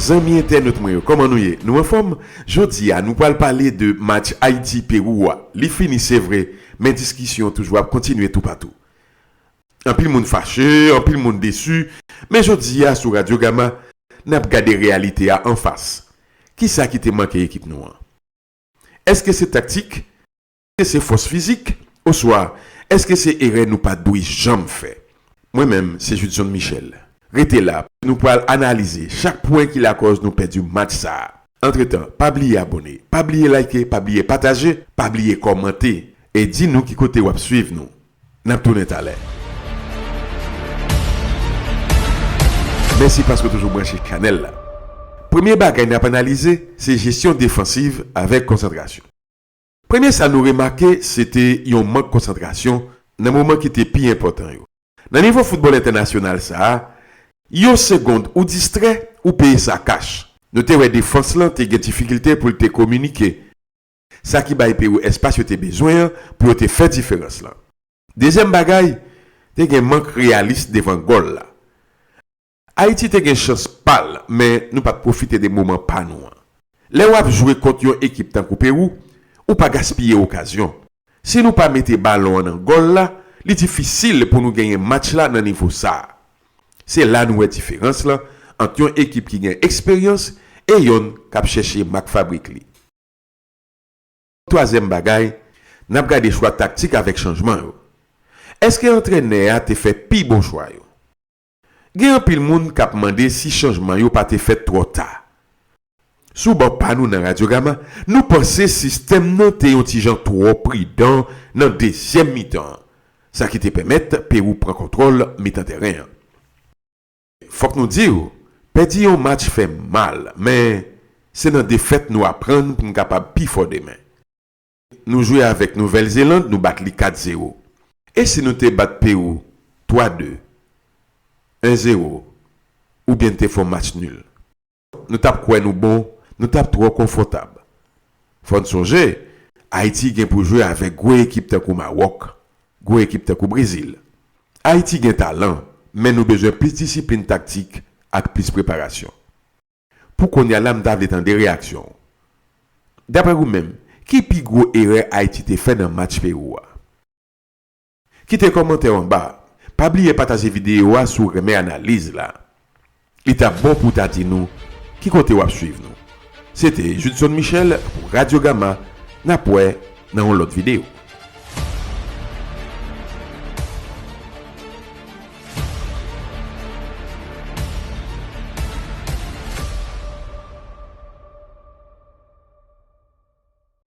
Zanmi entènot mwen yo kòman nou ye nou anfòm jodi a nou pral pale de match Ayiti Perou a li fini se vre men diskisyon toujou ap kontinye toupatou Anpil moun fache, anpil moun desu, men jodi a sou Radio Gama, nap gade reyalite a anfas. Kisa ki te manke ekip nou an? Eske se taktik? Eske se fòs fizik? Oswa eske se erè nou pat dwe janm fè? Mwen menm se Judson Michel. Rete la, nou pral analize chak pwen ki lakòz nou pèdi match sa a. Antretan, pa bliye abone, pa bliye like, pa bliye pataje, pa bliye kòmante e di nou ki kote wap swiv nou. Nap tounen talè. Mèsi paske w toujou branche chanèl la. Premye bagay nap analize se jesyon defansiv avèk konsantrasyon. Premye sa nou remake se te yon mank konsantrasyon nan moman ki te pi enpòtan yo. Nan nivo foutbòl entènasyonal sa a, yon segond ou distrè, ou peye sa kach. Nou te wè defans lan te gen difikilte pou l te kominike. Sa ki bay Perou espas yo te bezwen an pou yo te fè diferans lan. Dezyèm bagay, te gen mank reyalis devan gòl la. Ayiti te gen chans pa l, men nou pa t pwofite de moman pa nou an. Lè w ap jwe kont yon ekip tankou Perou, ou pa gaspiye okazyon. Si nou pa mete balon an nan gòl la, li difisil pou nou genyen match la nan nivo sa a. Se la nou wè diferans lan ant yon ekip ki gen eksperyans e yonn k ap chèche mak fabrik li. Twazyèm bagay, n ap gade chwa taktik avèk chanjman yo. Èske antrenè a te fè pi bon chwa yo? Gen anpil moun k ap mande si chanjman yo pa te fèt twò ta. Sou bò pa nou nan Radiogama, nou panse sistèm nan te yon ti jan twò pridan nan dezyèm mitan an, sa ki te pèmèt Pewou pran kontwòl mitan tèren an. Fòk nou di w, pèdi yon match fè mal, men se nan defèt nou aprann pou n kapab pi fò demen. Nou jwe avèk Nouvèl Zeland, nou bat li 4 zero. E si nou te bat Pewou 3 de, 1 zero, oubyen n te fè yon match nul? Nou t ap kwè nou bon, nou t ap twò konfòtab. Fò n sonje, Ayiti gen pou jwe avèk gwo ekip tankou Mawòk, gwo ekip tankou Brezil. Ayiti gen talan, men nou bezwen plis disiplin taktik ak plis preparasyon. Pou kounye a la m ta vle tande reyaksyon w. Daprè ou menm, ki pi gwo erè Ayiti te fè nan match Pewou a? Kite kòmantè w anba a. Pa bliye pataje videyo a si w renmen analiz la. Li t ap bon pou w ta di nou ki kote w ap suiv nou. Se te Judson Michel pou Radio Gamma, n ap wè nan yon lòt videyo.